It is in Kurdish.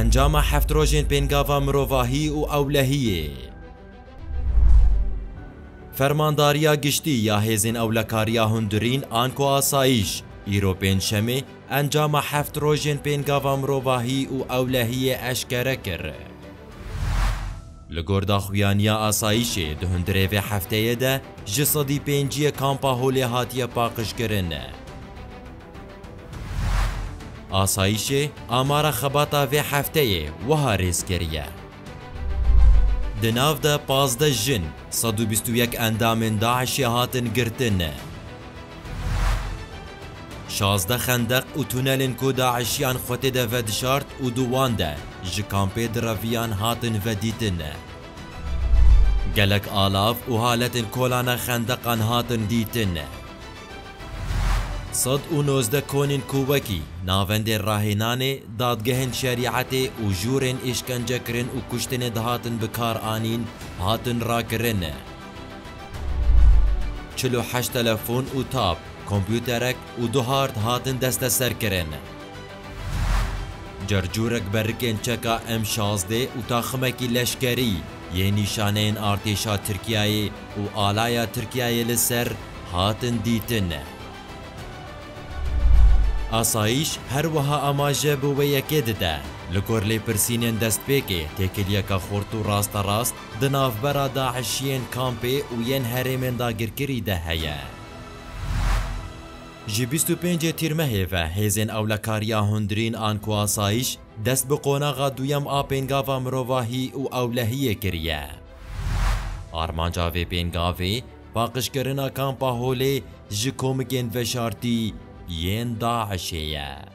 Encama heft rojên pêngava mirovahî û ewlehiyê. Fermandariya Giştî ya Hêzên Ewlekariya Hundirîn an ku Asayîş, îro Pêncşemê encama heft rojên pêngava mirovahî û ewlehiyê eşkere kir. Li gor daxuyaniya Asayîşê di hundirê vê hefteyê de ji sedî pênciyê kampa holê hatiye paqijkirin. Asayîşê amara xebata vê hefteyê wiha rêz kiriye, Di nav de pazdeh jin, sed û bîst û yek endamên DAIŞ'ê hatin girtin. Şazdeh xendeq û tunelên ku DAIŞ'iyan xwe tê de vedişart û di wan de ji kampê diraviyan hatin vedîtin. Gelek alav û haletên kolana xendeqan hatin dîtin. Sed û nozdeh konên ku wekî, navendên rahênanê, dadgehên şerîetê û jûrên îşkencekirin û kuştinê dihatin bikaranîn, hatin rakirin. Çil û heşt telefon û tab, kompûterek û du hard hatin desteserkirin. Carcûrek berikên çeka M şazdeh û taximekî leşkerî, yên nîşaneyên artêşa Tirkiyeyê û alaya Tirkiyeyê li ser hatin dîtin. Asayîş her wiha amaje bi wê yekê dide, li gor lêpirsînên destpêkê têkiliyeke xurt û rasterast di navbera DAIŞ'iyên kampê û yên herêmên dagirkirî de heye. Ji bîst û pêncê Tîrmehê ve hêzên ewlekariya hundirîn an ku asayîş dest bi qonaxa duyem a pêngava mirovahî û ewlehiyê kiriye. Armanca vê pêngavê paqijkirina Kampa Holê ji komikên veşartî yên DAIŞ'ê ye.